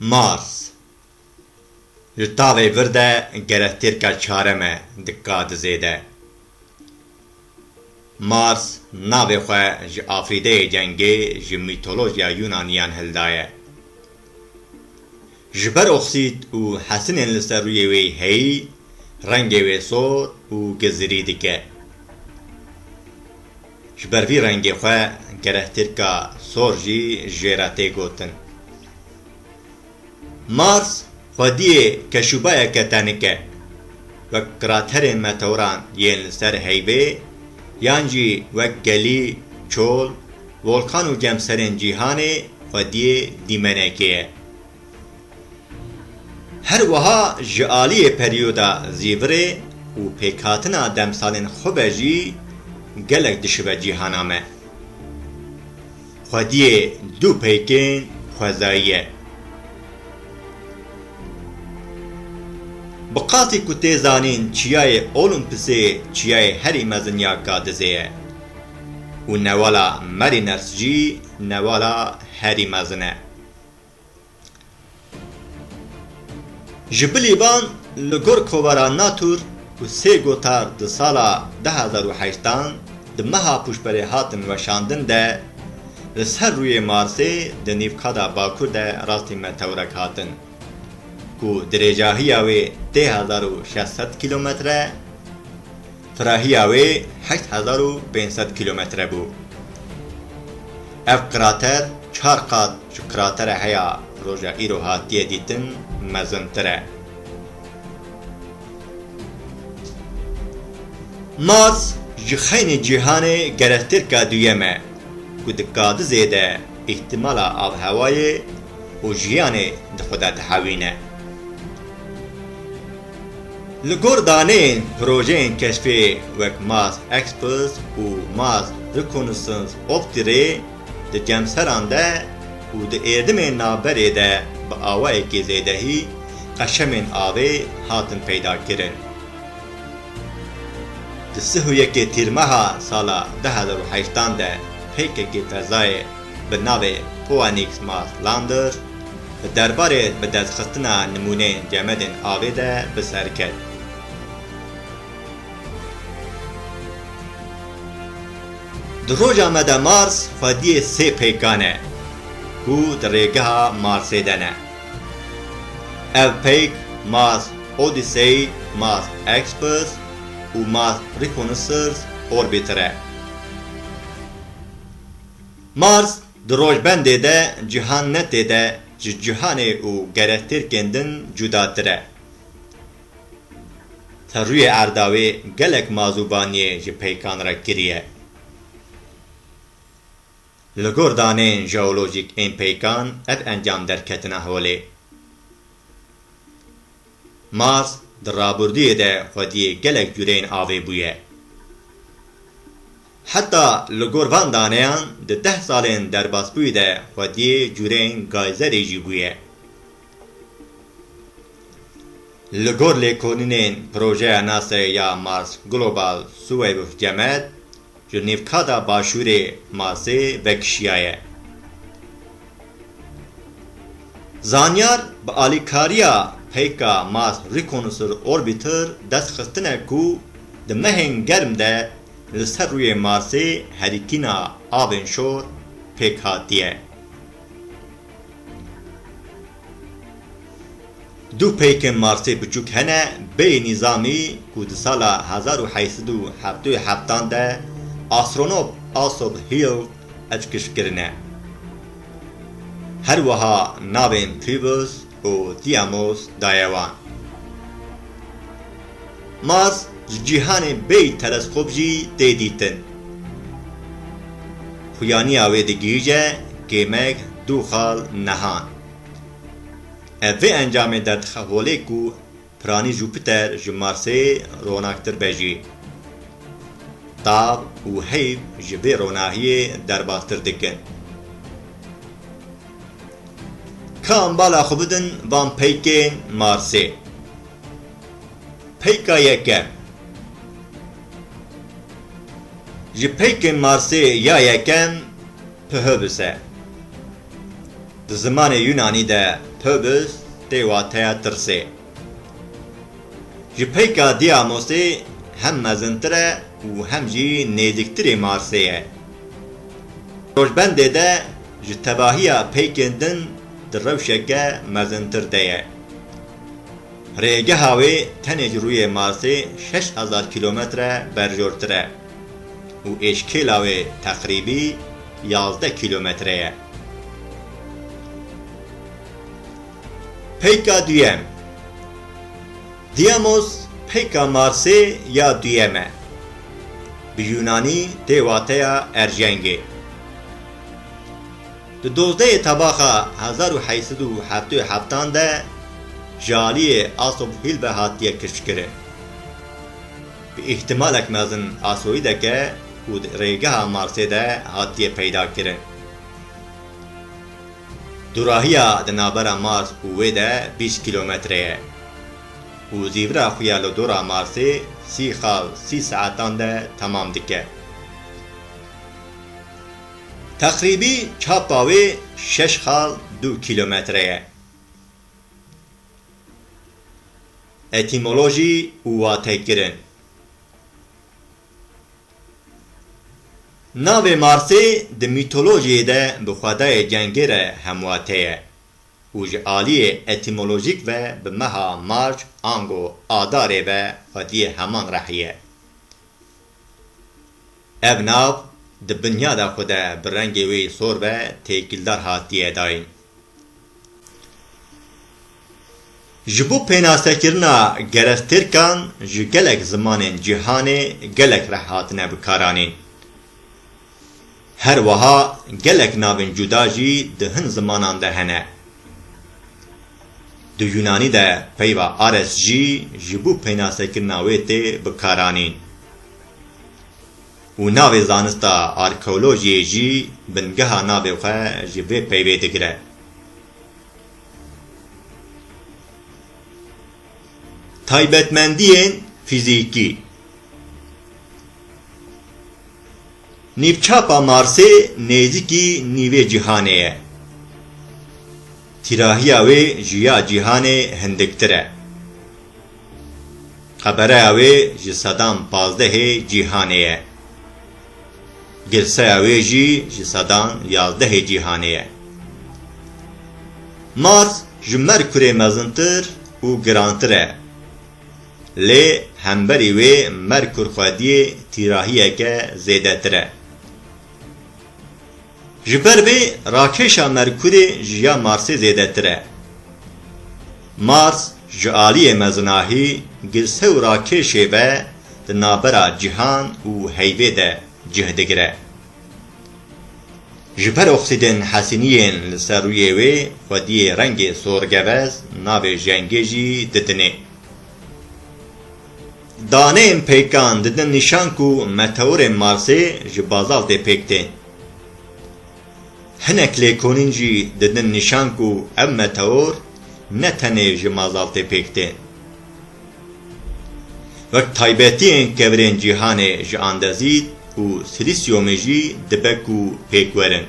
Mars Li tavê vir de gerektêrka çarem e di kadizê de. Mars navê xwe ji Afrîdeyê cengê ji mîtolojiya Yûnaniyan hildaye. Ji ber oksîd û hesinên li ser rûyê wê heyî, rengê wê sor û gizirî dike. Ji ber vî rengê xwe gerehtirka sor jî jê re tê gotin. Mars xwediyê keşûbayeke tenik e. Wek kraterên meteoran yên li ser heyvê yan jî wek gelî, çol, Volkan û cemserên cîhanê xwediyê dîmenekê ye. Her wiha ji aliyê peryoda zîvirê û pêkhatina demsalên xwe ve jî gelek dişibe cîhana me. Xwediyê du peykên xwezayî ye. Bi qasî ku tê zanîn çiyayê Olumpisê çiyayê herî mezin ya Gadizê ye. û newala Mariners jî newala herî mezin e. Ji bilî van li gor kovara Natur û sê gotar di sala du hezar û heşt an di meha pûşberê hatin weşandin de li ser rûyê Marsê di nîvkada bakur de rastî metewrek hatin ku dirêjahiya wê tê hezar û şeş sed kîlometre Xirahiya wê heşt hezar û pênc sed kîlometre bû. Ev krater çar qat ji kratere heya roja îro hatiye dîtin mezintir e. Mars ji xeynê cîhanê gerestêrka duyem e ku di kadi zêde îhtimala avhewayê û jiyanê di xwe de dihewîne. Li gor daneyên projeyên keşfê wek Mars Express û Mars Reconnaissance Optire di cemseran de û di êrdimên navberê de bi awayekî zêdehî qeşemên avê hatin peydakirin. Di sih û yekê Tîrmeha sala du hezar û heştan de pkk fezayê bi navê Poanix Mars Lander di derbarê bidestxistina nimûneyên cemedên avê de bi ser ket. Di roja me de Mars xwediyê sê peykan e ku di rêgeha Marsê de ne. Ev peyk Mars Odyssey, Mars Express û Mars Reconnaissance Orbiter e. Mars di rojbendê de cihan ne tê de ji cihanê û gerektêrkên din cudatir e. Ser rûyê erda wê gelek mazûbaniyê ji peykan re kiriye. Li gor daneyên jeolojîk ên peykan ev encam derketina holê. Mars di rabûrdûyê de xwediyê gelek cûreyên avê bûye. Heta li gor van daneyan di deh salên derbasbûyî de xwediyê cûreyên gayzerê jî bûye. Li gor lêkolînên projeya Nasrê ya Mars Global Suweybuh Cemed, Li nîvkada başûrê masê vekişiyaye. Zanyar bi alîkariya peyka Mars Reconnaisseur Orbiter dest xistine ku di mehên germ de li ser rûyê Marsê herikîna avên şor pêk hatiye. Du peykên Marsê biçûk hene, bêyî nîzamî ku di sala hezar û heşt sed û heftê û heft an de astronot Asob Hill eckiş kirine. Her wiha navên Phibos û Tiamos daye wan. Mars ji cîhanê bêyî teleskop jî tê dîtin. Xuyaniya wê digihîje kêmek du xal nehan. Ev vê encamê derdixe holê ku piranî Jupiter ji Marsê ronaktir be jî. Tav û heyv ji vê ronahiyê derbastir dikin. Kam bala xwe bidin van peykên Marsê? Peyka yekem, Ji peykên Marsê ya yekem Phoebus e. Di zimanê Yunanî de Phoebus tê wateya tirsê. Ji peyka Diamosê hem mezintir e û hem jî nêzîktirê Marsê ye. Rojbendê de ji tevahiya peykên din di rewşeke mezintir de ye. Rêgeha wê tenê ji rûyê Marsê şeş hezar kîlometre berjortir e û êşkêla wê teqrîbî yazdeh kîlometre ye. Peyka duyem, Diyamos, peyka Marsê ya duyem e. Bi yûnanî tê wateya erjengê. Di dozdehê tebaxa hezar û heşt sed û heftê û heft an de ji aliyê Asof Hîlbe hatiye kiştkirin. Bi îhtimalek mezin asoîdek e û di rêgeha Marsê de hatiye peydakirin. Dûrahiya di navbera Mars û wê de bîst kîlometre ye û zîvira xwe ya li dora Marsê sî xal sî saetan de temam dike. Teqrîbî çapa wê şeş xal du kîlometre ye. Etîmolojî û watekirin Navê Marsê di mîtolojiyê de bi xwedayê cengê re hemwate ye û ji aliyê etîmolojîk ve bi meha Marc ango Adarê ve xwediyê heman rehî ye. Ev nav di binyada xwe de bi rengê wê sor ve têkildar hatiye dayîn. Ji bo pênasekirina gerestêrkan ji gelek zimanên cîhanê gelek reh hatine bikaranîn. Her wiha gelek navên cuda jî di hin zimanan de hene. Di Yûnanî de peyva ares jî ji bo peynasekirina wê tê bikaranîn û navê zanista arkeolojiyê jî bingeha navê xwe ji vê peyvê digire. Taybetmendiyên fîzîkî. Nîvçapa Marsê nêzîkî nîvê cîhanê ye. Tîrahiya wê ji ya cîhanê hindiktir e. Qebereya wê ji sedan pazdehê cîhanê ye. Girseya wê jî ji sedan yazdehê cîhanê ye. Mars ji Merkurê mezintir û girantir e. Lê hemberî wê Merkur xwediyê tîrahiyeke zêdetir e. Ji ber vê rakêşa Merkurê ji ya Marsê zêdetir e. Mars ji aliyê mezinahî girse û rakêşê ve di navbera cîhan û heyvê de cih digire. Ji ber oksîdên Hesîniyên li ser rûyê wê xwediyê rengê sorgevez navê jengê jî didinê. Daneyên peykan didin nîşan ku meteorên Marsê ji bazaltê pêk tên. Hinek lêkolîn jî didin nîşan ku ev meteor ne tenê ji mazaltê pêk tên. Wek taybetiyên kevirên cîhanê ji andezît û silîsyomê jî dibe ku pêk werin.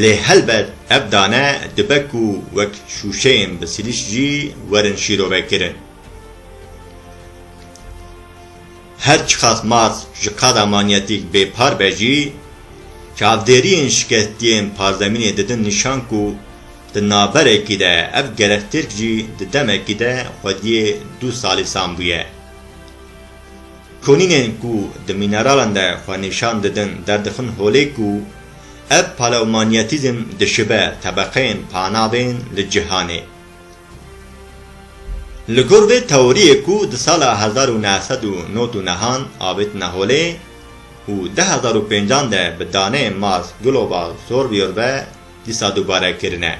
Lê helbet ev dane dibe ku wek şûşeyên bi silîs jî werin şîrovekirin. Her çiqas Mars ji qada manyetîk bêpar be jî, çavdêriyên şikestiyên parzemînê didin nîşan ku, Di naberekî de ev gerek tirk jî di demekî de xwediyê du salîsan bûye. Konînên ku di mîneralan de xwe nîşan didin derdixin holê ku ev paleomaniyetîzm dişibe tebeqeyên panavên li cîhanê. Li gor vê teoriyê ku di sala hezar û neh sed û not û nehan avêtine holê û du hezar û pêncan de bi daneyên Mars Global Sorview ve dîsa dubare kirine.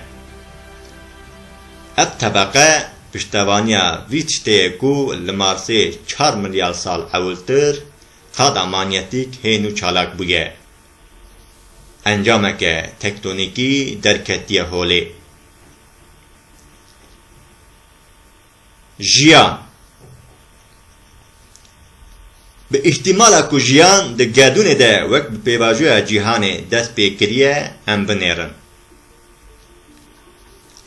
Ev tebeqe piştevaniya vî tiştê ye ku li Marsê çar milyar sal ewiltir qada manyetîk hên û çalak bûye. Encameke tektonîkî derketiye holê. Jiyan Bi îhtîmala ku jiyan di gedûnê de wek bi pêvajoya cîhanê dest pê kiriye em binêrin.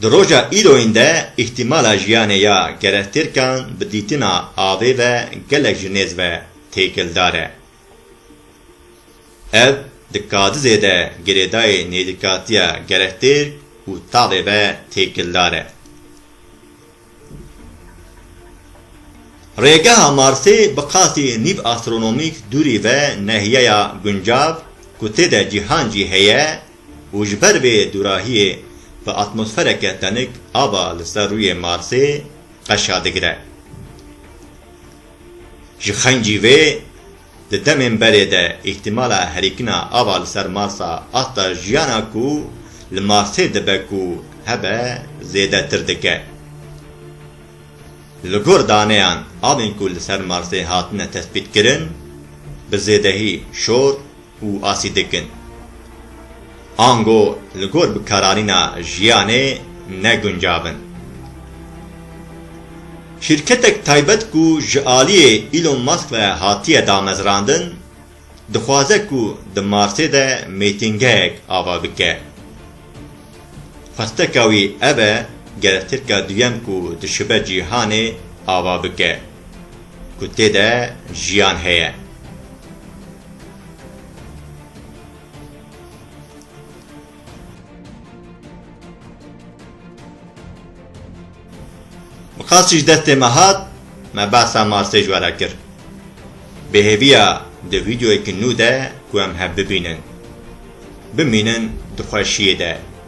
Di roja îroyîn de îhtîmala jiyanê ya kerestêrkan bi dîtina avê ve gelek ji nêz ve têkildar e. Ev di kadizê de girêdayê nêzîkatiya gerektêr û tavê ve têkildar e. Rêgeha Marsê bi qasî nîv astronomîk dûrî ve nehiyeya guncav ku tê de cîhan jî heye û ji ber vê dûrahiyê bi atmosfereke tenik ava li ser rûyê Marsê qeşa digire. Ji xencî vê di demên berê de îhtîmala herikina ava li ser Marsa asta jiyana ku li Marsê dibe ku hebe zêdetir dike. Li gor daneyan avên ku li ser Marsê hatine tespîtkirin bi zêdehî şor û asî dikin. Ango li gor bikararîna jiyanê ne guncav in. Şîrketek taybet ku ji aliyê Elon Musk ve hatiye damezrandin, dixwaze ku di Marsê de mêtingehek ava bike. Xwesteka wî ev e gerestêrka duyem ku dişibe cîhanê ava bike ku tê de jiyan heye. Miqasîş destê me hat me behsa Marsê ji we re kir. Bêhêviya di vîdeoyekî nû de ku em hev bibînin. Bimînin di xweşiyê de.